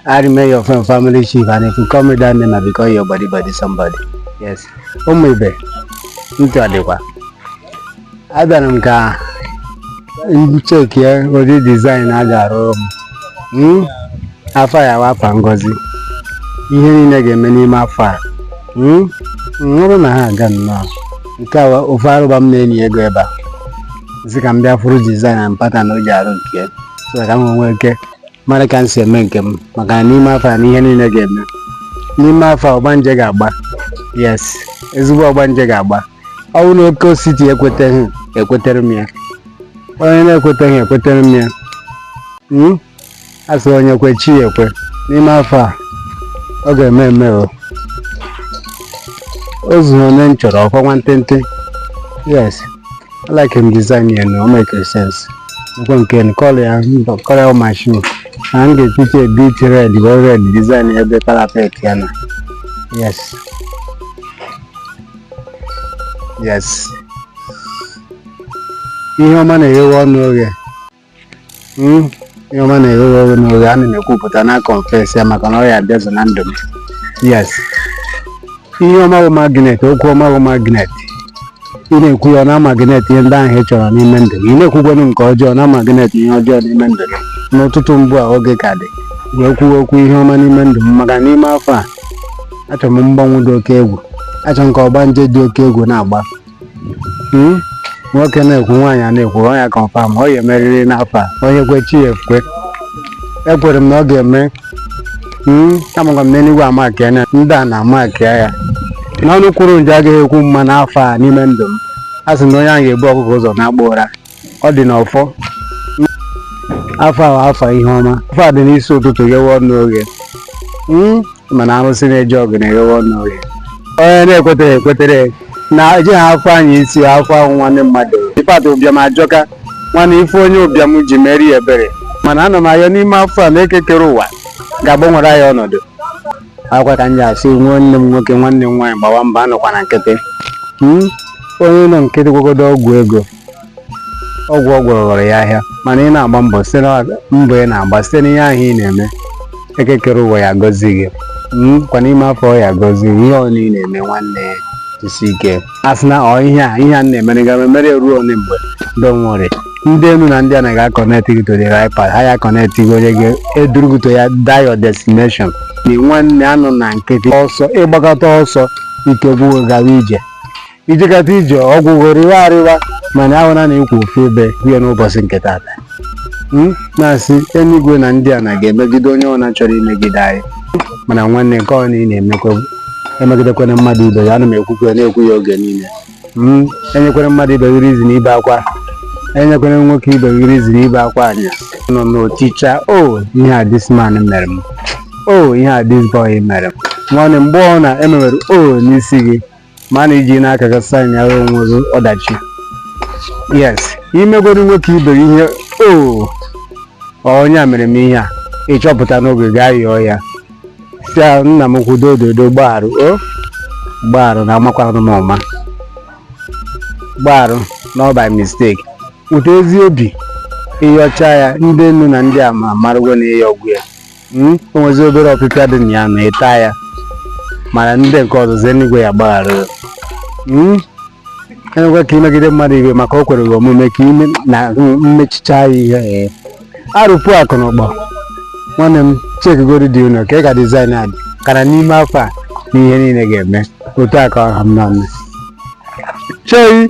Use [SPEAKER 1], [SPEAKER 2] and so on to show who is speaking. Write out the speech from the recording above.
[SPEAKER 1] I remain your friend, family chief, and if you call me that name, I become your body body somebody. Yes. Ụmụ ibe, ntị ọ dịkwa. Abịara m ka m chekịa ụdị design a ga-arụrụ m. Hmm? Afọ ya wụ afọ ngozi. Ihe niile ga-eme n'ime afọ a. Hmm? Nwụrụ na ha aga nnọọ. Nke a ofe arụba m na-enyi ego ebe a. M sị ka m bịa fụrụ design and pattern o ji arụ nke ya. So ka m nwee ike mara ka m si eme nke m maka na n'ime afọ a na ihe niile ga-eme n'ime afọ a ọgbanje ga-agba yes ezigbo ọgbanje ga-agba ọ bụrụ na oke osisi ekweteghị ekwetere m ya onye na-ekweteghị ekwetere m ya Hmm? a sị onye kwe chi ya ekwe n'ime afọ a ọ ga-eme eme o o zughị onye m chọrọ ọkwa nwantịntị yes like m design ya na o make sense nkwa nke n color ya kọrịa mashin na m ga-echiche bit red bụ red design ya ebe parapet ya na yes yes ihe ọma na-eghewe ọnụ oghe Hmm, ihe ọma na-eghewe ọnụ oghe ana m ekwupụta na confess ya maka na ọ ya-abịazu na ndụ m yes ihe ọma bụ magnet okwu ọma bụ magnet ị na-ekwu ya ọ na magnet ihe ndị ahụ ị chọrọ n'ime ndụ gị ị na-ekwukwanụ nke ọjọọ na magnet ihe ọjọọ n'ime ndụ gị n'ụtụtụ ugbu a oge ka dị wee kwuo okwu ihe ọma n'ime ndụ m maka n'ime afọ a achọrọ m mgbanwe dị oke egwu achọrọ m ka ọgbanje dị oke egwu na-agba Hmm? nwoke na-ekwu nwaanyị na-ekwu ọ ya confirm ọ ya-emerịrị n'afọ a onye kwe chi ya ekwe ekwere m na ọ ga-eme Hmm? amakwa m na eluigwe amaka ya na ndị ana amaka ya na ọnụ kwuru njọ agaghị ekwu mma n'afọ a n'ime ndụ m a sị na onye ahụ ga-ebu ọkụkọ ụzọ naba ụra ọ dị n'ọfọ afọ a wụ afọ ihe ọma afọ a dị n'isi ụtụtụ ghewe ọnụ oghe Hmm? mana arụsị na-eje ọgụ na-eghewe ọnụ oghe onye na-ekwetere ekwetere na eji ha afọ anyị isi afọ ahụ nwanne mmadụ ịpata ụbịam ajọka nwanne ị fụ onye ụbịam ji meere ya ebere mana ana m ayọ n'ime afọ a na eke kere ụwa ga-agbanwere anyị ọnọdụ ọkwa ka m ji asị nwanne m nwoke nwanne m nwaanyị gbawa mbọ anọkwana nkịtị Hmm? onye nọ nkịtị gwagodo ọgwụ ego ọgwụ ọ gwọrọ ghọrọ ya ahịa mana ị na-agba mbọ site na mbọ ị na-agba site n'ihe ahụ ị na-eme eke kere ụwa ya-agọzi gị Mm, kwa n'ime afọ a ọ ya-agọzi gị ihe ọbụla ị na-eme nwanne ya jisie ike asịna ọ ihe a ihe a m na-emere ga-emere ruo ole mgbe don't worry ndị enu na ndị ana ga-connect gị to the right path ha ya-connect gị onye ga-eduru gị to your that your destination na nwanne anọna nkịtị ọsọ ị gbakata ọsọ ike gwụ gị gawa ije i jekata ije ọgwụgwọ rịwa arịwa mana ahụ na na-ekwu ofu ebe kwuye n'ụbọchị nke tata hmm? na-asị enigwe na ndị ana ga-emegide onye ọna chọrọ imegide anyị mana nwanne nke ọ ị na-emekwa emegidekwana mmadụ ibe ya ana m ekwukwe na-ekwu ya oge niile hmm? enyekwene mmadụ ibe gị reason ibe akwa enyekwene nwoke ibe gị reason ibe akwa anya nọ na-eticha o oh, ihe a this man mere m o oh, ihe a this boy mere m nwanne mgbe ọ na-emewere o oh, n'isi gị ma na i jina aka gị signara onwe gị ọdachi yes i megodu nwoke ibe gị ihe o onye a mere m ihe a ị chọpụta n'oge gaa yọọ ya sị a, nna m kwudo ododo gbaarụ o gbaarụ na amakwanụ m ụma gbaarụ na ọ by mistake weta ezi obi ị yọcha ya ndị enu na ndị ana amarụgo na ị yọgwo ya Hmm? o nwezi obere ọpịpịa dị na ya na ị taa ya mana ndị nke ọzọzi enigwe ya-agbaghara ya. Hmm? enwekwa ka i megide mmadụ ibe maka o kwere gị omume ka i me na mmechicha ya ihe ee. arụpụ akụ na ụgbọ nwanne m checkigodi dị ụlọ ka ị ga design a dị kara n'ime afọ a na ihe niile ga-eme otu a ka ọ ha mma mme chei